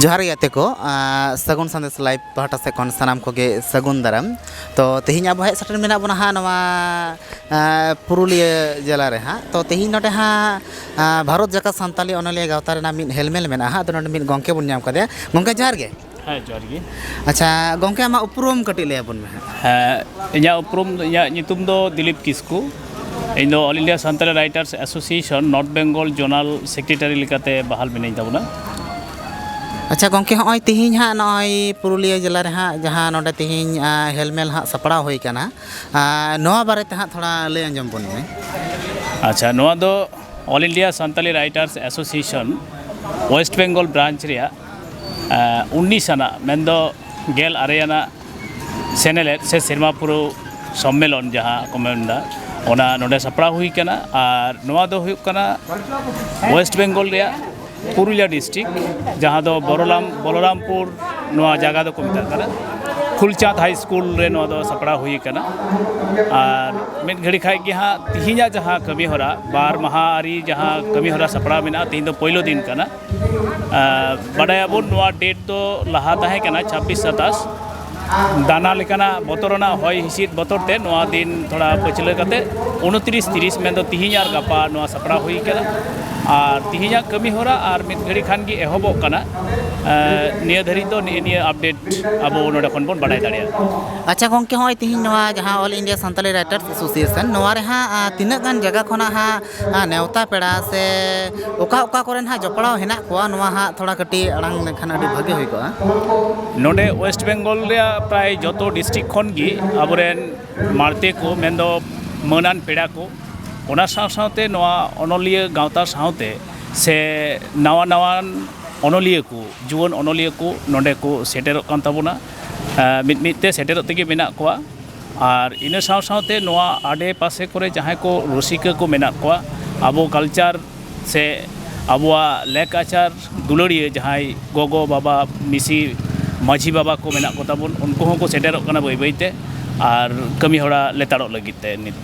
ᱡᱚᱦᱟᱨ ᱜᱮ ᱜᱟᱛᱮ ᱠᱚ ᱥᱟᱹᱜᱩᱱ ᱥᱟᱸᱫᱮᱥ ᱞᱟᱭᱤᱵ ᱯᱟᱦᱴᱟ ᱥᱮᱫ ᱠᱷᱚᱱ ᱥᱟᱱᱟᱢ ᱠᱚᱜᱮ ᱥᱟᱹᱜᱩᱱ ᱫᱟᱨᱟᱢ ᱛᱚ ᱛᱮᱦᱮᱧ ᱟᱵᱚ ᱦᱮᱡ ᱥᱮᱴᱮᱨ ᱢᱮᱱᱟᱜ ᱵᱚᱱᱟ ᱦᱟᱸᱜ ᱱᱚᱣᱟ ᱯᱩᱨᱩᱞᱤᱭᱟᱹ ᱡᱮᱞᱟ ᱨᱮ ᱦᱟᱸᱜ ᱛᱚ ᱛᱮᱦᱮᱧ ᱱᱚᱰᱮ ᱦᱟᱸᱜ ᱵᱷᱟᱨᱚᱛ ᱡᱟᱠᱟᱛ ᱥᱟᱱᱛᱟᱞᱤ ᱚᱱᱚᱞᱤᱭᱟᱹ ᱜᱟᱶᱛᱟ ᱨᱮᱱᱟᱜ ᱢᱤᱫ ᱦᱮᱞᱢᱮᱞ ᱢᱮᱱᱟᱜᱼᱟ ᱦᱟᱸᱜ ᱟᱫᱚ ᱱᱚᱰᱮ ᱢᱤᱫ ᱜᱚᱢᱠᱮ ᱵᱚᱱ ᱧᱟᱢ ᱠᱟᱫᱮᱭᱟ ᱜᱚᱢᱠᱮ ᱡᱚᱦᱟᱨ ᱜᱮ ᱦᱮᱸ ᱡᱚᱦᱟᱨ ᱜᱮ ᱟᱪᱪᱷᱟ ᱜᱚᱢᱠᱮ ᱟᱢᱟᱜ ᱩᱯᱨᱩᱢ ᱠᱟᱹᱴᱤᱡ ᱞᱟᱹᱭ ᱟᱵᱚᱱ ᱢᱮ ᱦᱮᱸ ᱤᱧᱟᱹᱜ ᱩᱯᱨᱩᱢ ᱤᱧᱟᱹᱜ ᱧᱩᱛᱩᱢ ᱫᱚ ᱫᱤᱞᱤᱯ ᱠᱤᱥᱠᱩ ᱤᱧ ᱫᱚ all India Santali writers association north Bengal zonal secretary ᱞᱮᱠᱟᱛᱮ ᱵᱟᱦᱟᱞ ᱢᱤᱱᱟᱹᱧ ᱛᱟᱵᱚᱱᱟ ᱟᱪᱪᱷᱟ ᱜᱚᱢᱠᱮ ᱦᱚᱸᱜᱼᱚᱭ ᱛᱮᱦᱮᱧ ᱦᱟᱸᱜ ᱱᱚᱜᱼᱚᱭ ᱯᱩᱨᱩᱞᱤᱭᱟᱹ ᱡᱮᱞᱟ ᱨᱮ ᱦᱟᱸᱜ ᱡᱟᱦᱟᱸ ᱱᱚᱰᱮ ᱛᱮᱦᱮᱧ ᱦᱮᱞᱢᱮᱞ ᱦᱟᱸᱜ ᱥᱟᱯᱲᱟᱣ ᱦᱩᱭ ᱠᱟᱱᱟ ᱱᱚᱣᱟ ᱵᱟᱨᱮ ᱛᱮ ᱦᱟᱸᱜ ᱛᱷᱚᱲᱟ ᱞᱟᱹᱭ ᱟᱸᱡᱚᱢ ᱵᱚᱱ ᱢᱮ ᱟᱪᱪᱷᱟ ᱱᱚᱣᱟ ᱫᱚ all India Santali writers association west Bengal branch ᱨᱮᱭᱟᱜ ᱩᱱᱤᱥ ᱟᱱᱟᱜ ᱢᱮᱱᱫᱚ ᱜᱮᱞ ᱟᱨᱮ ᱟᱱᱟᱜ ᱥᱮᱱᱮᱞᱮᱫ ᱥᱮ ᱥᱮᱨᱢᱟ ᱯᱩᱨᱟᱹᱣ ᱥᱚᱢᱢᱮᱞᱚᱱ ᱡᱟᱦᱟᱸ ᱠᱚ ᱢᱮᱱᱫᱟ ᱚᱱᱟ ᱱᱚᱰᱮ ᱥᱟᱯᱲᱟᱣ ᱦᱩᱭ ᱠᱟᱱᱟ ᱟᱨ ᱱᱚᱣᱟ ᱫᱚ ᱦᱩᱭᱩᱜ ᱠᱟᱱᱟ ᱳᱭᱮᱥᱴ ᱵᱮᱝᱜᱚᱞ ᱨᱮᱭᱟᱜ ᱯᱩᱨᱩᱞᱤᱭᱟ ᱰᱤᱥᱴᱤᱠ ᱡᱟᱦᱟᱸ ᱫᱚ ᱵᱚᱨᱚᱞᱟᱢ ᱵᱚᱞᱚᱨᱟᱢᱯᱩᱨ ᱱᱚᱣᱟ ᱡᱟᱭᱜᱟ ᱫᱚᱠᱚ ᱢᱮᱛᱟᱜ ᱠᱟᱱᱟ ᱯᱷᱩᱞᱪᱟᱸᱫᱽ ᱦᱟᱭ ᱥᱠᱩᱞ ᱨᱮ ᱱᱚᱣᱟ ᱫᱚ ᱥᱟᱯᱲᱟᱣ ᱦᱩᱭ ᱠᱟᱱᱟ ᱟᱨ ᱢᱤᱫ ᱜᱷᱟᱹᱲᱤ ᱠᱷᱟᱡ ᱜᱮ ᱦᱟᱸᱜ ᱛᱤᱦᱤᱧᱟᱜ ᱡᱟᱦᱟᱸ ᱠᱟᱹᱢᱤ ᱦᱚᱨᱟ ᱵᱟᱨ ᱢᱟᱦᱟ ᱟᱹᱨᱤ ᱡᱟᱦᱟᱸ ᱠᱟᱹᱢᱤ ᱦᱚᱨᱟ ᱥᱟᱯᱲᱟᱣ ᱢᱮᱱᱟᱜᱼᱟ ᱛᱤᱦᱤᱧ ᱫᱚ ᱯᱳᱭᱞᱳ ᱫᱤᱱ ᱠᱟᱱᱟ ᱵᱟᱰᱟᱭᱟᱵᱚᱱ ᱱᱚᱣᱟ ᱰᱮᱴ ᱫᱚ ᱞᱟᱦᱟ ᱛᱟᱦᱮᱸ ᱠᱟᱱᱟ ᱪᱷᱟᱵᱵᱤᱥ ᱥᱟᱛᱟᱥ ᱱᱟᱱᱟ ᱞᱮᱠᱟᱱᱟᱜ ᱵᱚᱛᱚᱨ ᱨᱮᱱᱟᱜ ᱦᱚᱭ ᱦᱤᱸᱥᱤᱫ ᱵᱚᱛᱚᱨ ᱛᱮ ᱱᱚᱣᱟ ᱫᱤᱱ ᱛᱷᱚᱲᱟ ᱯᱟᱹᱪᱷᱞᱟᱹ ᱠᱟᱛᱮ ᱩᱱᱛᱨᱤᱥ ᱛᱤᱨᱤᱥ ᱢᱮᱱᱫᱚ ᱛᱤᱦᱤᱧ ᱟᱨ ᱜᱟᱯᱟ ᱱᱚᱣᱟ ᱥᱟᱯᱲᱟᱣ ᱦᱩᱭ ᱠᱟᱱᱟ ᱟᱨ ᱛᱤᱦᱤᱧᱟᱜ ᱠᱟᱹᱢᱤ ᱦᱚᱨᱟ ᱟᱨ ᱢᱤᱫ ᱜᱷᱟᱹᱲᱤ ᱠᱷᱟᱱ ᱜᱮ ᱮᱦᱚᱵᱚᱜ ᱠᱟᱱᱟ ᱱᱤᱭᱟᱹ ᱫᱷᱟᱹᱨᱤᱡ ᱫᱚ ᱱᱤᱭᱟᱹ ᱱᱤᱭᱟᱹ ᱟᱯᱰᱮᱴ ᱟᱵᱚ ᱱᱚᱰᱮ ᱠᱷᱚᱱ ᱵᱚᱱ ᱵᱟᱰᱟᱭ ᱫᱟᱲᱮᱭᱟᱜᱼᱟ ᱟᱪᱪᱷᱟ ᱜᱚᱢᱠᱮ ᱦᱚᱸᱜᱼᱚᱭ ᱛᱤᱦᱤᱧ ᱱᱚᱣᱟ ᱡᱟᱦᱟᱸ all India Santali writers association ᱱᱚᱣᱟ ᱨᱮ ᱦᱟᱸᱜ ᱛᱤᱱᱟᱹᱜ ᱜᱟᱱ ᱡᱟᱭᱜᱟ ᱠᱷᱚᱱᱟᱜ ᱦᱟᱸᱜ ᱱᱮᱣᱛᱟ ᱯᱮᱲᱟ ᱥᱮ ᱚᱠᱟ ᱚᱠᱟ ᱠᱚᱨᱮᱱ ᱦᱟᱸᱜ ᱡᱚᱯᱲᱟᱣ ᱦᱮᱱᱟᱜ ᱠᱚᱣᱟ ᱱᱚᱣᱟ ᱦᱟᱸᱜ ᱛᱷᱚᱲᱟ ᱠᱟᱹᱴᱤᱡ ᱟᱲᱟᱝ ᱞᱮᱠᱷᱟᱱ ᱟᱹᱰᱤ ᱵᱷᱟᱹᱜᱤ ᱦᱩᱭ ᱠᱚᱜᱼᱟ ᱱᱚᱰᱮ ᱳᱭᱮᱥᱴ ᱵᱮᱝᱜᱚᱞ ᱨᱮᱭᱟᱜ ᱯᱨᱟᱭ ᱡᱚᱛᱚ ᱰᱤᱥᱴᱤᱠ ᱠᱷᱚᱱ ᱜᱮ ᱟᱵᱚᱨᱮᱱ ᱢᱟᱲᱛᱮ ᱠᱚ ᱢᱮᱱᱫᱚ ᱢᱟᱹᱱᱟᱱ ᱯᱮᱲᱟ ᱠᱚ ᱚᱱᱟ ᱥᱟᱶ ᱥᱟᱶᱛᱮ ᱱᱚᱣᱟ ᱚᱱᱚᱞᱤᱭᱟᱹ ᱜᱟᱶᱛᱟ ᱥᱟᱶᱛᱮ ᱥᱮ ᱱᱟᱣᱟ ᱱᱟᱣᱟᱱ ᱚᱱᱚᱞᱤᱭᱟᱹ ᱠᱚ ᱡᱩᱣᱟᱹᱱ ᱚᱱᱚᱞᱤᱭᱟᱹ ᱠᱚ ᱱᱚᱰᱮ ᱠᱚ ᱥᱮᱴᱮᱨᱚᱜ ᱠᱟᱱ ᱛᱟᱵᱚᱱᱟ ᱢᱤᱫ ᱢᱤᱫ ᱛᱮ ᱥᱮᱴᱮᱨᱚᱜ ᱛᱮᱜᱮ ᱢᱮᱱᱟᱜ ᱠᱚᱣᱟ ᱟᱨ ᱤᱱᱟᱹ ᱥᱟᱶ ᱥᱟᱶᱛᱮ ᱱᱚᱣᱟ ᱟᱰᱮ ᱯᱟᱥᱮ ᱠᱚᱨᱮ ᱡᱟᱦᱟᱸᱭ ᱠᱚ ᱨᱩᱥᱤᱠᱟ ᱠᱚ ᱢᱮᱱᱟᱜ ᱠᱚᱣᱟ ᱟᱵᱚ ᱠᱟᱞᱪᱟᱨ ᱥᱮ ᱟᱵᱚᱣᱟᱜ ᱞᱮᱠ ᱟᱪᱟᱨ ᱫᱩᱞᱟᱹᱲᱤᱭᱟᱹ ᱡᱟᱦᱟᱸᱭ ᱜᱚᱜᱚ ᱵᱟᱵᱟ ᱢᱤᱥᱤ ᱢᱟᱹᱡᱷᱤ ᱵᱟᱵᱟ ᱠᱚ ᱢᱮᱱᱟᱜ ᱠᱚᱛᱟ ᱵᱚᱱ ᱩᱱᱠᱩ ᱦᱚᱸᱠᱚ ᱥᱮᱴᱮᱨᱚᱜ ᱠᱟᱱᱟ ᱵᱟᱹᱭ ᱵᱟᱹᱭᱛᱮ ᱟᱨ ᱠᱟᱹᱢᱤ ᱦᱚᱨᱟ ᱞᱮᱛᱟᱲᱚᱜ ᱞᱟᱹᱜᱤᱫ ᱛᱮ ᱱᱤᱛ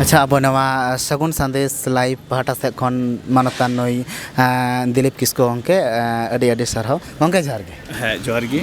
ᱟᱪᱪᱷᱟ ᱟᱵᱚ ᱱᱚᱣᱟ ᱥᱟᱹᱜᱩᱱ ᱥᱟᱸᱫᱮᱥ ᱞᱟᱭᱤᱵᱷ ᱯᱟᱦᱴᱟ ᱥᱮᱫ ᱠᱷᱚᱱ ᱢᱟᱱᱚᱛᱟᱱ ᱱᱩᱭ ᱫᱤᱞᱤᱯ ᱠᱤᱥᱠᱩ ᱜᱚᱢᱠᱮ ᱟᱹᱰᱤ ᱟᱹᱰᱤ ᱥᱟᱨᱦᱟᱣ ᱜᱚᱢᱠᱮ ᱡᱚᱦᱟᱨ ᱜᱮ ᱦᱮᱸ ᱡᱚᱦᱟᱨ ᱜᱮ